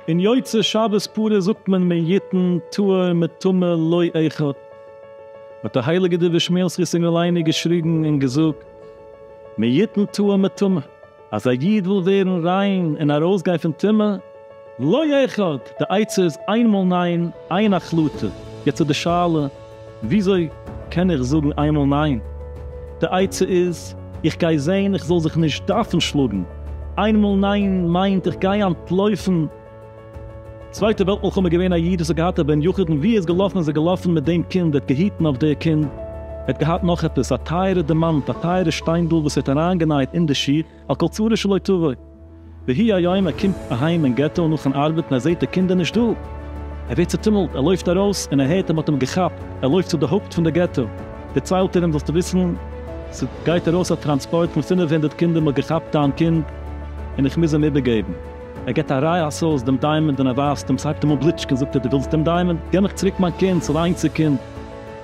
און יוצא שבת פרה זאגט מען מי יתן טהור מטמא לא אחד, האט דער הייליגער דביר שמואל זכותו יגן עלינו געשריגן און געזאגט מי יתן טהור מטמא. אז א איד וויל ווערן ריין און ארויסגיין פון טומאה, לא ירחק, די עצה איז איין מאל ניין, איין החלטה, יעצט איז די שאלה, וויאזוי קען איך זאגן איין מאל ניין? די עצה איז, איך גיי זען איך זאל זיך נישט דארפן שלאגן, איין מאל ניין מיינט איך גיי אנטלויפן, צווייטע וועלט מלחמה געווען א איד וואס האט געהאט א בן יחיד און ווי ער איז געלאפן איז ער געלאפן מיט דעם קינד ער האט געהיטן אויף דער קינד ער האט געהאט נאך עפעס א טייערע דעמאנט א טייערע שטיינדל וואס ער האט אריין גענייט אין די שיך על כל צרה שלא תבוא ויהי היום ער קומט אהיים אין געטא נאכן ארבעטן ער זעהט די קינד איז נישט דא ער ווערט צוטומלט ער לויפט ארויס און ער הערט אז מען האט אים געכאפט ער לויפט צו די הויפט פון די געטא דערציילט ער אים זאלסטו וויסן ס'גייט ארויס א טראנספארט פון פֿינף הונדערט קינדער מען האט געכאפט דיין קינד און איך מוז אים איבערגעבן. ער געט א רייע עשה'ס דעם דיימאנד און ער ווייזט אים, ס'הייבט אים אן בליטשקען, זאגט ער, דו ווילסט דעם דיימאנד? גיב מיך צוריק מיין קינד, ס'איז א איינציג קינד.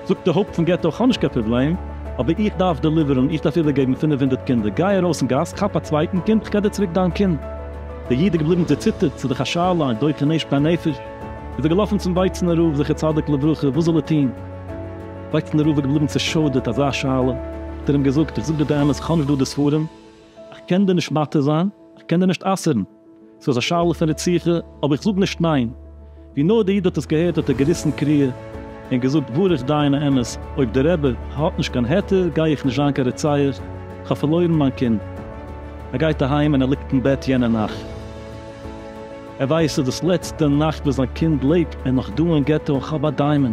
זאגט דער הויפט פון געטא, כ'האב נישט קיין פראבלעם, אבער איך דארף דעליווערן, איך דארף איבערגעבן פינף הונדערט קינדער, גיי ארויס אין גאס, כאפ א צווייטן קינד, כ'גיב דיר צוריק דיין קינד. דער איד איז געבליבן צעציטערט, ס'איז דאך א שאלה, און דוחק נעשפט דיין נפש. איז ער געלאפן צום ווייצנער רב זכר צדיק לברכה, וואס זאל ער טון? ווייצנער רב איז געבליבן צעשוידערט, אזא שאלה? האט ער אים געזאגט, איך זאג דיר די אמת, כ'האב נישט דא די ספרים, איך קען דיר נישט מתיר זיין, איך קען דיר נישט אסר'ן, ס'איז א שאלה פון רציחה, אבער איך זאג נישט ניין. ווי נאר דער איד האט עס געהערט האט ער געריסן קריעה און געזאגט ברוך דיין האמת, אויב דער רבי האט נישט קיין היתר גיי איך נישט זיין קיין רוצח, איך האב פארלוירן מיין קינד. ער גייט אהיים און ער ליגט אין בעט יענע נאכט. ער ווייסט ס'איז דאס לעצטע נאכט וואס זיין קינד לעבט, ער איז נאך דא אין געטא אין חב א דיימאן,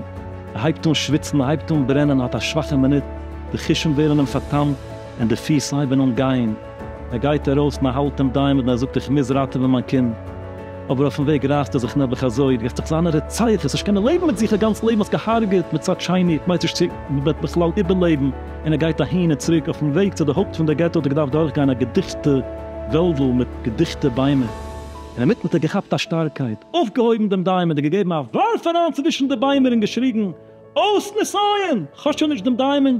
ער הייבט אן שוויצן, ער הייבט אן ברענען, ער האט א שוואכע מינוט, די חושים ווערן אים פארטאמט, און די פיס הייבן אן גיין, ער גייט ארויס, מען האלט אים דיין און ער זאגט איך מוז ראטעווען מיין קינד, אבער אויפן וועג רייסט ער זיך נעבעך אזוי, וועסט דאך זיין א רוצח, וועסט נישט קענען לעבן מיט זיך, א גאנץ לעבן האסט געהארגעט, מצד שני, כ'ווייס נישט צו מ'וועט בכלל איבערלעבן, און ער גייט אהין און צוריק, אויפן וועג צו די הויפט פון די געטא האט ער געדארפט דורכגיין א געדיכטע וועלדל מיט געדיכטע ביימער, אינמיטן האט ער געכאפט א שטארקייט, אויפגעהויבן דעם דיימען און געגעבן א ווארף אריין צווישן די ביימער און געשריגן אויס נסיון! כאטש שוין נישט דעם דיימען!